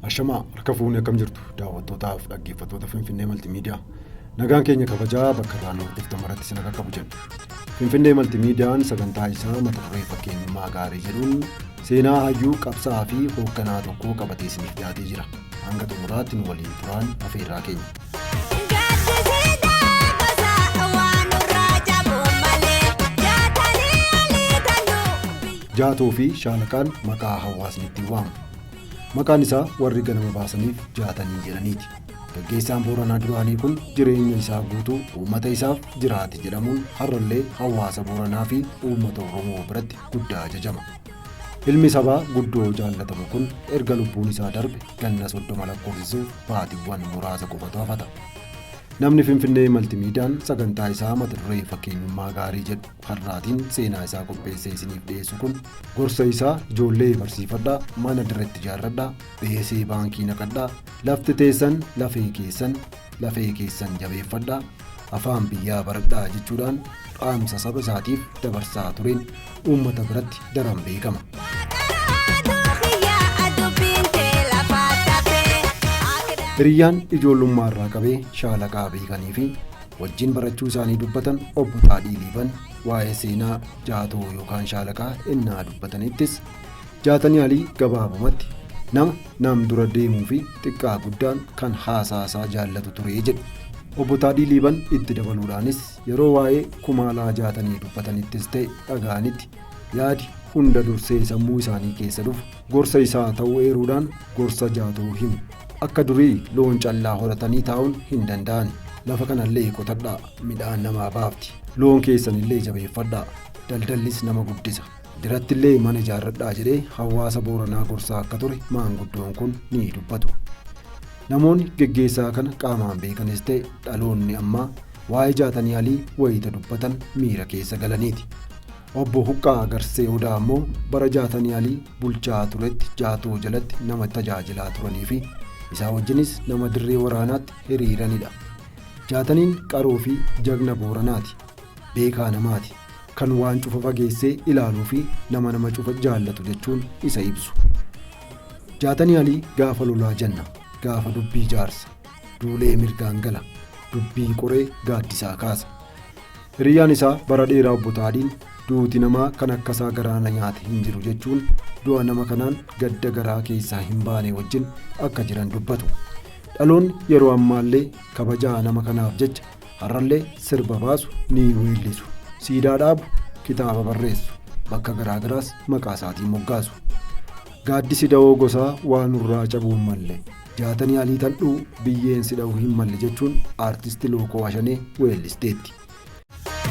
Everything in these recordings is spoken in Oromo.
Ashamaa harka fuunee akkam jirtu daawwattootaaf dhaggeeffattoota Finfinnee Maltimiidiyaa. Nagaan keenya kabajaa bakka irraa nuuf dhuftan maratti isin akka qabu jenna. Finfinnee Maltimiidiyaan sagantaa isaa mata duree fakkeenyummaa gaarii jedhuun Seenaa hayyuu, qabsa'aa fi hoogganaa tokkoo qabatee isiniif dhiyaatee jira. Hanga xumuraatti nu waliin turaan afeerraa keenya. Jaatoo fi Shaalaqaan maqaa hawaasni ittiin waamu. Maqaan isaa warri ganama baasaniif jaatanii jedhaniiti. Gaggeessaan Booranaa duraanii kun jireenya isaa guutuu uummata isaaf jiraate jedhamuun har'allee hawaasa Booranaa fi uummata Oromoo biratti guddaa ajajama. Ilmi sabaa guddoo jaallatamu kun erga lubbuun isaa darbe ganna soddoma lakkoofsisuuf baatiiwwan muraasa qofatu hafata. Namni Finfinnee Maltimiidiyaan sagantaa isaa mata duree fakkeenyummaa gaarii jedhu har'aatiin seenaa isaa qopheessee isiniif dhiyeessu kun gorsa isaa ijoollee barsiifadhaa, mana dirreetti ijaarradhaa, beesee baankii naqadhaa, lafti teessan lafee keessan, lafee keessan jabeeffadhaa, afaan biyyaa baradhaa jechuudhaan dhaamsa saba isaatiif dabarsaa tureen uummata biratti daran beekama. Hiriyyaan ijoollummaa irraa qabee shaalaqaa beekanii fi wajjin barachuu isaanii dubbatan obbo Taadhii Liiban waa'ee seenaa jaatoo yookaan shaalaqaa ennaa dubbatanittis Jaatanii Alii gabaabumatti nama nam dura deemuu fi xiqqaa guddaan kan haasaasaa jaallatu ture jedhu. Obbo Taadhii Liiban itti dabaluudhaanis yeroo waa'ee Kumaalaa Jaatanii dubbatanittis ta'e dhaga'anitti yaadi hunda dursee sammuu isaanii keessa dhufu gorsa isaa ta'uu eeruudhaan gorsa Jaatoo himu. Akka durii loon callaa horatanii taa'uun hin danda'an. Lafa kanallee qotadhaa midhaan namaa baafti. Loon keessanillee jabeeffadhaa. Daldallis nama guddisa. Dirattillee mana ijaarradhaa jedhee hawaasa Booranaa gorsaa akka ture maanguddoon kun ni dubbatu. Namoonni geggeessaa kana qaamaan beekanis ta'e dhaloonni ammaa waa'ee jaatanii alii wayita dubbatan miira keessa galaniiti. Obbo Huqqaa Garsee Odaa ammoo bara jaatanii alii bulchaa turetti jaatoo jalatti nama tajaajilaa turanii fi isaa wajjinis nama dirree waraanaatti hiriiranidha. Jaataniin qaroo fi jagna Booranaati. beekaa namaati. Kan waan cufa fageessee ilaaluufi nama nama cufa jaallatu jechuun isa ibsu. Jaatanii Alii gaafa lolaa janna, gaafa dubbii jaarsa, duulee mirgaan gala, dubbii qoree gaaddisaa kaasa. Hiriyyaan isaa bara dheeraa obbo Taadiin duuti namaa kan akkasaa garaa na nyaate hin jiru jechuun du'a nama kanaan gadda garaa keessaa hin baane wajjin akka jiran dubbatu. Dhaloonni yeroo ammaallee kabajaa nama kanaaf jecha Har'allee sirba baasu ni weellisu. Siidaa dhaabu, kitaaba barreessu. Bakka garaa garaas maqaa isaatiin moggaasu. Gaaddisi dawoo gosaa waa nurraa cabuu hin malle. Jaatanii alii tandhuu biyyeen si dha'uu hin malle jechuun aartisti Lookoo Ashanee weellisteetti.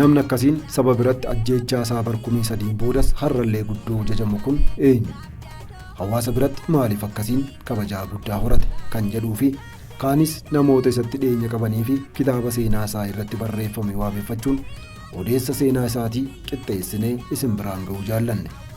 Namni akkasiin saba biratti ajjeechaa isaa bar kumii sadiin boodas har'allee guddoo jajamu kun eenyu? Hawaasa biratti maaliif akkasiin kabajaa guddaa horate kan jedhuu fi kaanis namoota isatti dhiyeenya qabanii fi kitaaba seenaa isaa irratti barreeffame waabeffachuun odeessa seenaa isaatii qixxeessinee isin biraan ga'uu jaallanne.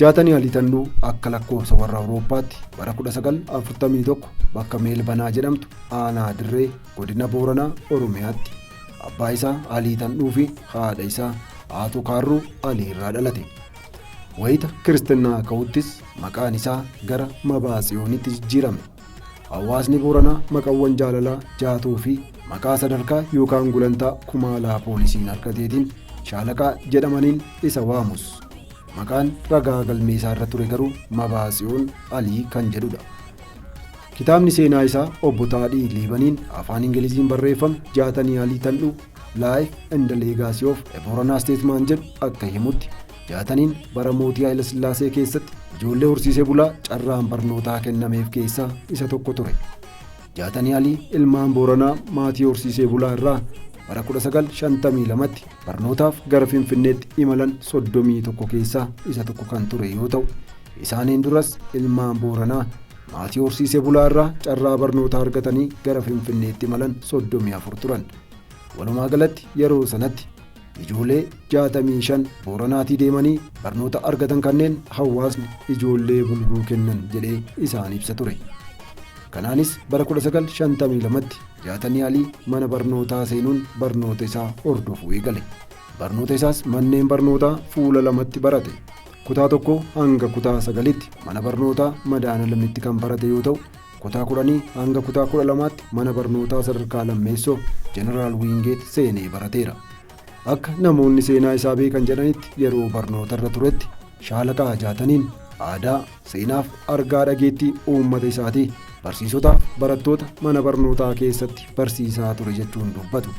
Jaatanii Alitanduu akka lakkoofsa warra Awurooppaatti bara 1941 bakka Meelbanaa jedhamtu aanaa Dirree godina Booranaa Oromiyaatti abbaa isaa Alii Tandhuu fi haadha isaa Aatuu Kaarruu Alii irraa dhalate. Wayita kiristinnaa ka'uttis maqaan isaa gara Mabaatsiyoonitti jijjiirame. Hawaasni Booranaa maqawwan jaalalaa jaatuu fi maqaa sadarkaa yookaan gulantaa kumaalaa poolisiin argateetiin shaalaqaa jedhamaniin isa waamus. Maqaan ragaa galmee isaa irra ture garuu Mabaatsiyoon Alii kan jedhudha. Kitaabni seenaa isaa obbo Taadhii Liibaniin afaan Ingiliziin barreeffame Jaatanii Alii Tandhu Life and the Legacy of a Booranaa Statesman jedhu akka himutti Jaataniin bara mootii Hayilasillaasee keessatti ijoollee horsiisee bulaa carraan barnootaa kennameef keessaa isa tokko ture. Jaatanii Alii ilmaan Booranaa maatii horsiisee bulaa irraa bara 1952tti barnootaaf gara Finfinneetti imalan 31 keessaa isa tokko kan ture yoo ta'u, isaaniin duras ilmaan Booranaa maatii horsiisee bulaa irraa carraa barnootaa argatanii gara Finfinneetti imalan 34 turan. Walumaa galatti yeroo sanatti Ijoolee 65 Booranaatii deemanii barnoota argatan kanneen hawaasni ijoollee bulguu kennan jedhee isaan ibsa ture. Kanaanis bara 1952tti Jaatanii Alii mana barnootaa seenuun barnoota isaa hordofuu eegale. Barnoota isaas manneen barnootaa fuula lamatti barate. Kutaa tokko hanga kutaa sagalitti mana barnootaa madaana lamitti kan barate yoo ta'u Kutaa 10 hanga kutaa 12tti mana barnootaa sadarkaa lammeessoo Jeneraal Wiingeet seenee barateera. Akka namoonni seenaa isaa beekan jedhanitti yeroo barnootarra turetti shaalaqaa jaataniin aadaa, seenaaf argaa dhageettii uummata isaatii barsiisotaaf barattoota mana barnootaa keessatti barsiisaa ture jechuun dubbatu.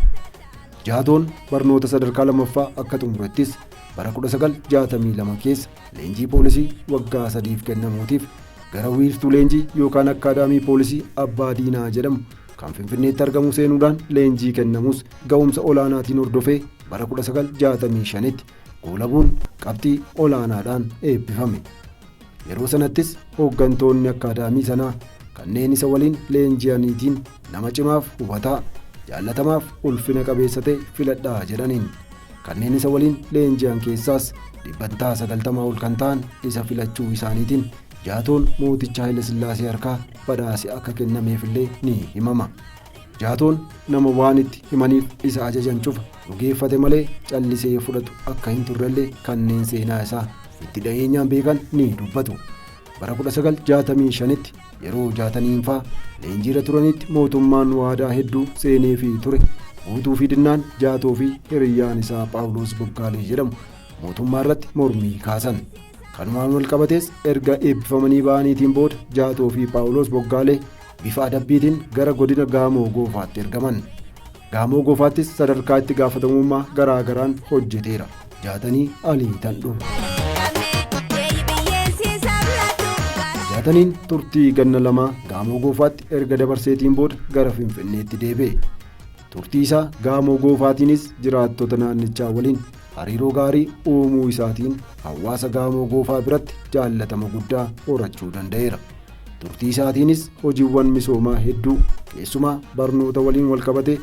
Jaatoon barnoota sadarkaa lammaffaa akka xumurettis bara 1962 keessa leenjii poolisii waggaa sadiif kennamuutiif gara wiirtuu leenjii yookaan akkaadaamii poolisii abbaa diinaa jedhamu kan finfinneetti argamu seenuudhaan leenjii kennamus ga'umsa olaanaatiin hordofee bara 1965tti goolabuun qabxii olaanaadhaan eebbifame. Yeroo sanattis hooggantoonni akkaadaamii sanaa kanneen isa waliin leenji'aniitiin Nama cimaaf hubataa, jaallatamaaf ulfina qabeessa ta'e filadhaa jedhaniin. Kanneen isa waliin leenji'an keessaas dhibbantaa 90 ol kan ta'an isa filachuu isaaniitiin jaatoon mooticha Hayilasillaasee harkaa badhaasi akka kennameefillee ni himama. Jaatoon nama waan itti himaniif isa ajajan cufa dhugeeffate malee callisee fudhatu akka hin turrellee kanneen seenaa isaa itti dhiyeenyaan beekan ni dubbatu. Bara 1965tti yeroo jaataniinfaa leenjiirra turanitti mootummaan waadaa hedduu seeneefii ture guutuu fi dinnaan jaatoo fi hiriyyaan isaa Phaawuloos Boggaalee jedhamu mootummaa irratti mormii kaasan. Kanumaan wal qabatees erga eebbifamanii ba'aniitiin booda jaatoo fi Phaawuloos Boggaalee bifa adabbiitiin gara godina Gaamoo Goofaatti ergaman. Gaamoo Goofaattis sadarkaa itti gaafatamummaa garaa garaan hojjeteera. Jaatanii Alii Tandhoo. Jaataniin turtii ganna lamaa Gaamoo Goofaatti erga dabarseetiin booda gara Finfinneetti deebi'e. Turtii isaa Gaamoo Goofaatiinis jiraattota naannichaa waliin Hariiroo gaarii uumuu isaatiin hawaasa Gaamoo Goofaa biratti jaallatama guddaa horachuu danda'eera. Turtii isaatiinis hojiiwwan misoomaa hedduu keessumaa barnoota waliin walqabatee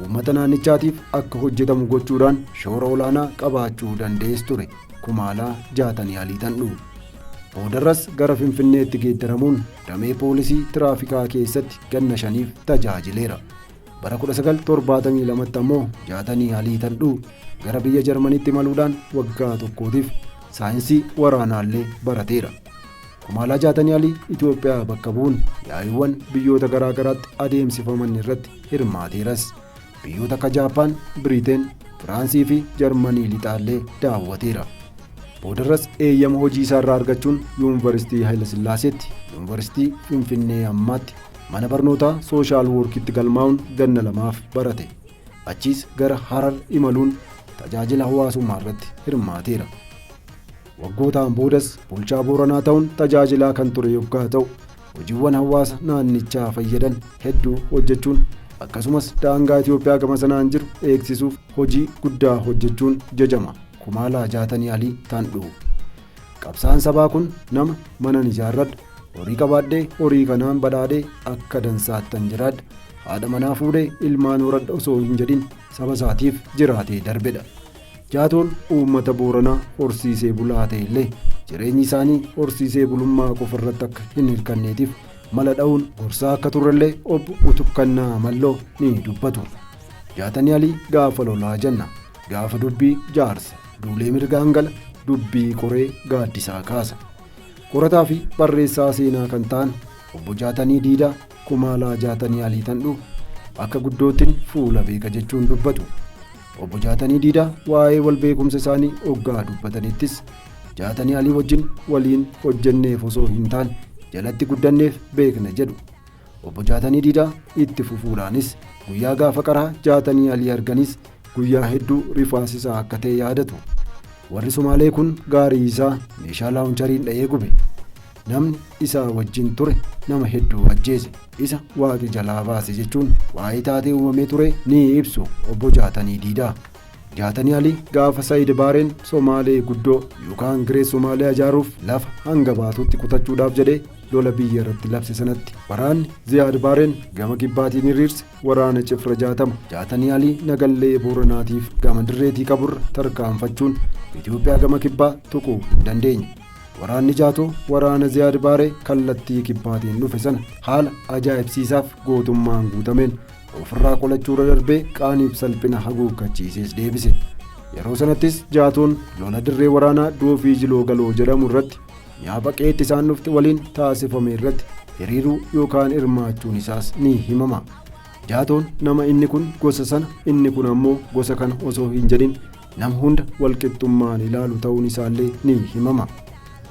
uummata naannichaatiif akka hojjetamu gochuudhaan shoora olaanaa qabaachuu danda'es ture. Kumaalaa jaatanii aliitan dhufu. Boodarras gara Finfinneetti geeddaramuun damee poolisii tiraafikaa keessatti ganna shaniif tajaajileera. Bara 1972tti ammoo Jaatanii Alii Tandhuu gara biyya Jarmanitti imaluudhaan waggaa tokkootiif saayinsii waraanaallee barateera. Kumaalaa Jaatanii Alii Itoophiyaa bakka bu'uun yaa'iiwwan biyyoota garaa garaatti adeemsifaman irratti hirmaateeras. Biyyoota akka Jaappaan, Biriteen, Firaansii fi Jarmanii lixaallee daawwateera. Boodarras eeyyama hojii isaarraa argachuun Yuunivarsiitii Hayilasillaaseetti, Yuunivarsiitii Finfinnee ammaatti Mana barnootaa Sooshaal Woorkitti galmaa'uun ganna lamaaf barate. Achiis gara Harar imaluun tajaajila hawaasummaa irratti hirmaateera. Waggootaan boodas bulchaa Booranaa ta'uun tajaajilaa kan ture yoggaa ta'u, hojiiwwan hawaasa naannichaa fayyadan hedduu hojjechuun akkasumas daangaa Itoophiyaa gama sanaan jiru eegsisuuf hojii guddaa hojjechuun jajama. Kumaalaa Jaatanii Alii Tandhuu. Qabsaan sabaa kun nama manan ijaarradha. Horii qabaadhee horii kanaan badhaadhee akka dansaattan jiraadha. Haadha manaa fuudhee ilmaan horadha osoo hin jedhin saba isaatiif jiraatee darbedha. Jaatoon uummata Booranaa horsiisee bulaa ta'e illee jireenyi isaanii horsiisee bulummaa qofa irratti akka hin hirkanneetiif mala dha'uun gorsaa akka turrellee obbo Utukkannaa Malloo ni dubbatu. Jaatanii Alii gaafa lolaa jenna. Gaafa dubbii jaarsa. Duulee mirgaan gala dubbii qoree gaaddisaa kaasa. Qorataa fi barreessaa seenaa kan ta'an obbo Jaatanii Diidaa Kumaalaa Jaatanii Alii Tandhuu akka guddootiin fuula beeka jechuun dubbatu. Obbo Jaatanii Diidaa waa'ee wal beekumsa isaanii oggaa dubbatanittis Jaatanii Alii wajjin waliin hojjenneef osoo hin taane jalatti guddanneef beekna jedhu. Obbo Jaatanii Diidaa itti fufuudhaanis guyyaa gaafa qaraa Jaatanii Alii arganis guyyaa hedduu rifaasisaa akka ta'e yaadatu. Warri Somaalee kun gaarii isaa meeshaa laawunchariin dha'ee gube. Namni isaa wajjin ture nama hedduu ajjeese. Isa waaqi jalaa baase jechuun waa'ee taatee uumamee ture ni ibsu obbo Jaatanii Diidaa. Jaatanii Alii gaafa Sayid Baareen Somaalee guddoo yookaan Giree Somaaliyaa ijaaruuf lafa hanga baatutti kutachuudhaaf jedhee lola biyya irratti labse sanatti waraanni Ziyaad Baareen gama kibbaatiin hiriirse waraana cifra jaatama jaatanii alii nagallee booranaatiif gama dirreetii qaburra tarkaanfachuun Itoophiyaa gama kibbaa tuquu hin dandeenye. Waraanni jaatoo waraana Ziyaad Baaree kallattii kibbaatiin dhufe sana haala ajaa'ibsiisaaf gootummaan guutameen ofirraa qolachuurra darbee qaaniif salphina haguuggachiisees deebise. Yeroo sanattis jaatoon lola dirree waraanaa doofii jiloo galoo jedhamu irratti Yaaba qeetti isaan dhufti waliin taasifame irratti hiriiruu yookaan hirmaachuun isaas ni himama. Jaatoon nama inni kun gosa sana inni kun ammoo gosa kana osoo hin jedhin nama hunda walqixxummaan ilaalu ta'uun isaallee ni himama.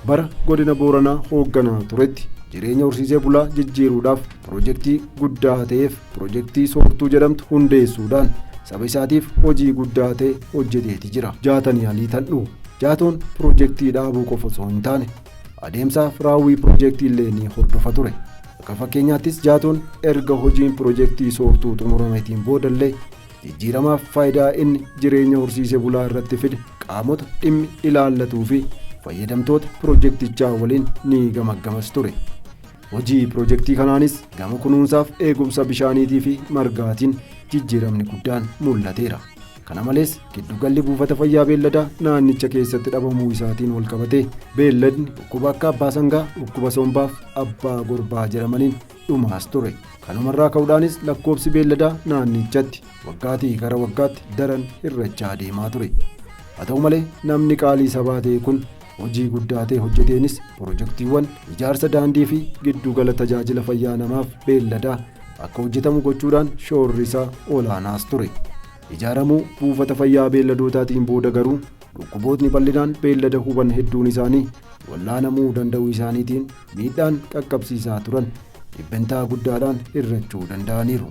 Bara godina Booranaa hoogganaa turetti jireenya horsiisee bulaa jijjiiruudhaaf Pirojektii guddaa ta'eef pirojektii soortuu jedhamtu hundeessuudhaan saba isaatiif hojii guddaa ta'e hojjeteeti jira. Jaatanii Alii Tandhuu. Jaatoon pirojektii dhaabuu qofa osoo hin taane adeemsaaf raawwii pirojektii illee ni hordofa ture. Akka fakkeenyaattis Jaatoon erga hojiin pirojektii soortuu xumurameetiin boodallee jijjiiramaaf faayidaa inni jireenya horsiise bulaa irratti fide qaamota dhimmi ilaallatuu fi fayyadamtoota pirojektichaa waliin ni gamaggamas ture. Hojii pirojektii kanaanis gama kunuunsaaf eegumsa bishaaniitii fi margaatiin jijjiiramni guddaan mul'ateera. Kana malees giddugalli buufata fayyaa beelladaa naannicha keessatti dhabamuu isaatiin walqabatee beelladni dhukkuba akka abbaa sangaa, dhukkuba sombaaf abbaa gorbaa jedhamaniin dhumaas ture. Kanumarraa ka'uudhaanis lakkoobsi beelladaa naannichatti waggaatii gara waggaatti daran hir'achaa deemaa ture. Haa ta'u malee namni qaalii sabaa ta'e kun Hojii guddaa ta'e hojjeteenis pirojektiiwwan ijaarsa daandii fi giddugala tajaajila fayyaa namaaf beelladaa akka hojjetamu gochuudhaan shoorri isaa olaanaas ture. Ijaaramuu buufata fayyaa beelladootaatiin booda garuu dhukkubootni bal'inaan beellada huban hedduun isaanii wal'aanamuu danda'uu isaaniitiin miidhaan qaqqabsiisaa turan dhibbentaa guddaadhaan hir'achuu danda'aniiru.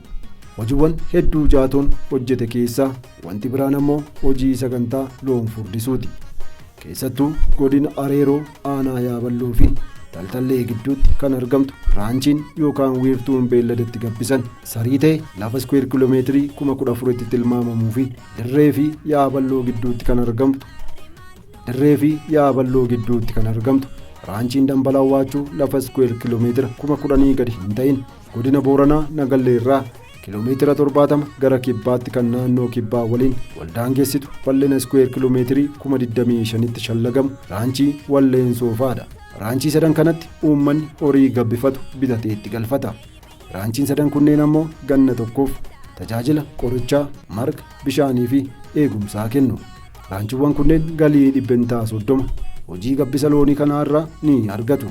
Hojiiwwan hedduu jaatoon hojjete keessaa wanti biraan ammoo hojii sagantaa loon furdisuuti. Keessattuu godina Areeroo aanaa Yaaballoo fi Taltallee gidduutti kan argamtu raanchiin yookaan wiirtuun beelladatti gabbisan sarii ta'e lafa iskuweer kiiloomeetirii kuma kudha afuritti tilmaamamuu fi dirree fi yaaballoo gidduutti kan argamtu dirree fi yaaballoo gidduutti kan argamtu raanchiin dambalaa waachuu lafa iskuweer kiiloomeetira kuma kudhanii gadi hin ta'in Godina Booranaa Nagallee irraa kiiloomeetira 70 gara kibbaatti kan naannoo kibbaa waliin wal daangessitu bal'ina iskuweer kiiloomeetirii 25,000tti shallagamu raanchii Walleen Soofaadha. Raanchii sadan kanatti uummanni horii gabbifatu bitatee itti galfata. Raanchiin sadan kunneen ammoo ganna tokkoof tajaajila qorichaa, marga, bishaanii fi eegumsaa kennu. Raanchiiwwan kunneen galii dhibbentaa 30 hojii gabbisa loonii kanaa irraa ni argatu.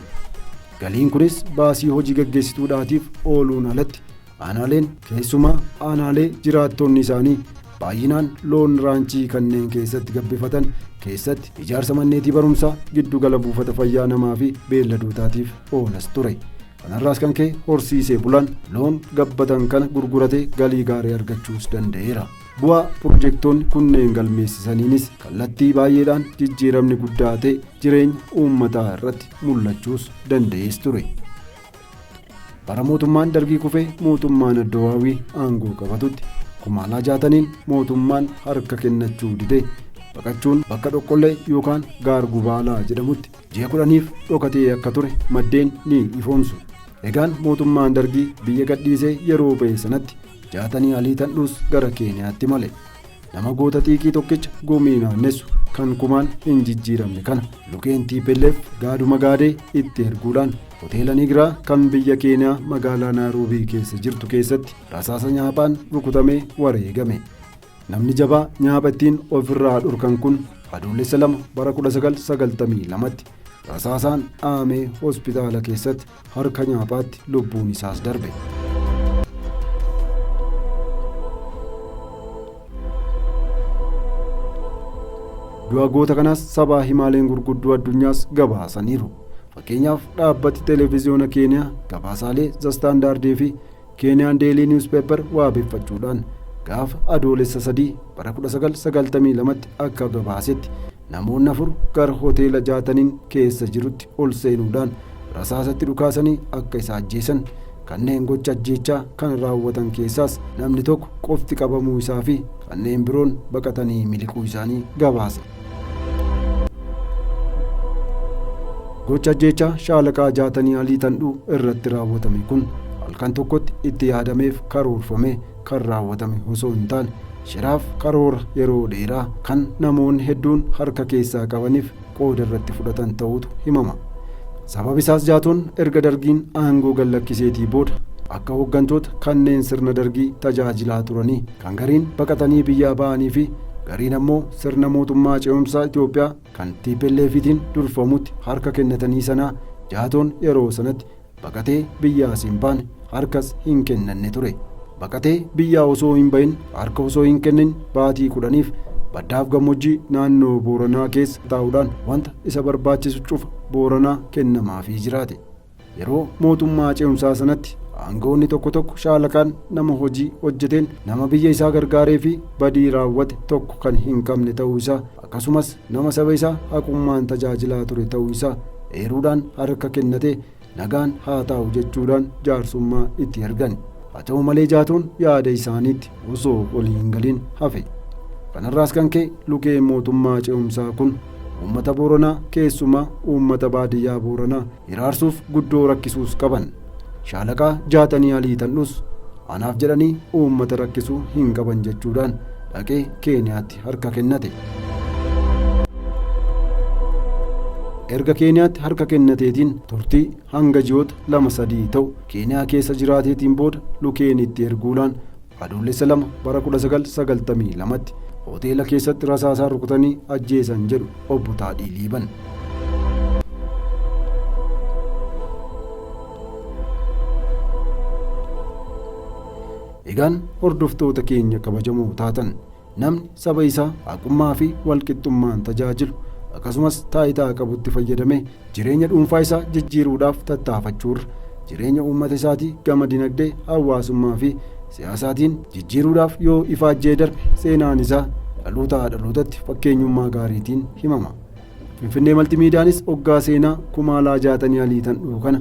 Galiin kunis baasii hojii gaggeessituudhaatiif ooluun alatti aanaaleen keessumaa aanaalee jiraattonni isaanii baay'inaan loon raanchii kanneen keessatti gabbifatan keessatti ijaarsa manneetii barumsaa giddugala buufata fayyaa namaa fi beelladootaatiif oolas ture. Kanarraas kan ka'e horsiisee bulaan loon gabbatan kana gurguratee galii gaarii argachuus danda'eera. Bu'aa pirojektoonni kunneen galmeessisaniinis kallattii baay'eedhaan jijjiiramni guddaa ta'e jireenya uummataa irratti mul'achuus danda'ees ture. Bara mootummaan dargii kufee mootummaan Addawaawii aangoo qabatutti kumaalaa jaataniin mootummaan harka kennachuu didee baqachuun bakka dhoqqollee yookaan gaar gubaalaa jedhamutti ji'a kudhaniif dhokatee akka ture maddeen ni ifoomsu. Egaan mootummaan dargii biyya gadhiisee yeroo ba'e sanatti jaatanii alii tandhuus gara Keeniyaatti male. Nama goota xiiqii tokkicha gumii naannessu kan kumaan hin jijjiiramne kana lukeen TPLF gaaduma gaadee itti erguudhaan hoteela Nigiraa kan biyya Keeniyaa magaalaa Naayiroobii keessa jirtu keessatti rasaasa nyaaphaan rukutamee wareegame. Namni jabaa nyaapha ittiin ofirraa dhorkan kun adoolessa lama bara 1992tti rasaasaan dhaamee hospitaala keessatti harka nyaaphaatti lubbuun isaas darbe. du'a goota kanaas sabaa himaaleen gurguddoo addunyaas gabaasaniiru fakkeenyaaf dhaabbati televiziyoona keeniyaa gabaasaalee zastaandaardii fi Keeniyaan Deelii Niwuspeepper waabeffachuudhaan gaafa adoolessa sadii bara 1992tti akka gabaasetti namoonni afur gara hoteela jaataniin keessa jirutti ol seenuudhaan rasaasatti dhukaasanii akka isa ajjeesan kanneen gocha ajjeechaa kana raawwatan keessaas namni tokko qofti qabamuu isaa fi kanneen biroon baqatanii miliquu isaanii gabaase. Gocha ajjeechaa shaalaqaa jaatanii alii tandhuu irratti raawwatame kun halkan tokkotti itti yaadameef karoorfamee kan raawwatame osoo hin taane shiraaf karoora yeroo dheeraa kan namoonni hedduun harka keessaa qabaniif qooda irratti fudhatan ta'utu himama. Sababi isaas jaatoon erga dargiin aangoo gallakkiseetii booda akka hooggantoota kanneen sirna dargii tajaajilaa turanii Kan gariin baqatanii biyyaa ba'anii fi gariin ammoo sirna mootummaa ce'umsaa Itoophiyaa kan TPLFitiin durfamutti harka kennatanii sanaa Jaatoon yeroo sanatti baqatee biyyaas hin baane harkas hin kennanne ture. Baqatee biyyaa osoo hin bahin harka osoo hin kennin baatii kudhaniif baddaaf gammoojjii naannoo Booranaa keessa taa'uudhaan wanta isa barbaachisu cufa Booranaa kennamaafii jiraate. Yeroo mootummaa ce'umsaa sanatti aangawoonni tokko tokko shaalakaan nama hojii hojjeteen nama biyya isaa gargaaree fi badii raawwate tokko kan hin qabne ta'uu isaa akkasumas nama saba isaa haqummaan tajaajilaa ture ta'uu isaa eeruudhaan harka kennatee nagaan haa taa'u jechuudhaan jaarsummaa itti ergan. Haa ta'u malee jaatoon yaada isaaniitti osoo olii hin galin hafe. Kanarraas kan ka'e lukeen mootummaa ce'umsaa kun uummata Booranaa keessumaa uummata baadiyyaa Booranaa hiraarsuuf guddoo rakkisuus qaban. Shaalaqaa Jaatanii Alii Tandhus anaaf jedhanii uummata rakkisuu hin qaban jechuudhaan dhaqee Keeniyaatti harka kennate. Erga Keeniyaatti harka kennateetiin turtii hanga ji'oota lama sadii ta'u Keeniyaa keessa jiraateetiin booda Lukeeniitti erguudhaan Adoolessa 2 bara 1992tti hoteela keessatti rasaasaan rukutanii ajjeesan jedhu obbo Taadhii Liiban. Egaan hordoftoota keenya kabajamoo taatan Namni saba isaa haqummaa fi walqixxummaan tajaajilu akkasumas taayitaa qabutti fayyadamee jireenya dhuunfaa isaa jijjiiruudhaaf tattaafachuurra jireenya uummata isaatii gama dinagdee, hawaasummaa fi siyaasaatiin jijjiiruudhaaf yoo ifaajjee darbe seenaan isaa dhalootaa dhalootatti fakkeenyummaa gaariitiin himama. Finfinnee Maltimiidiyaanis oggaa seenaa Kumaalaa Jaatanii Alii tan dhufu kana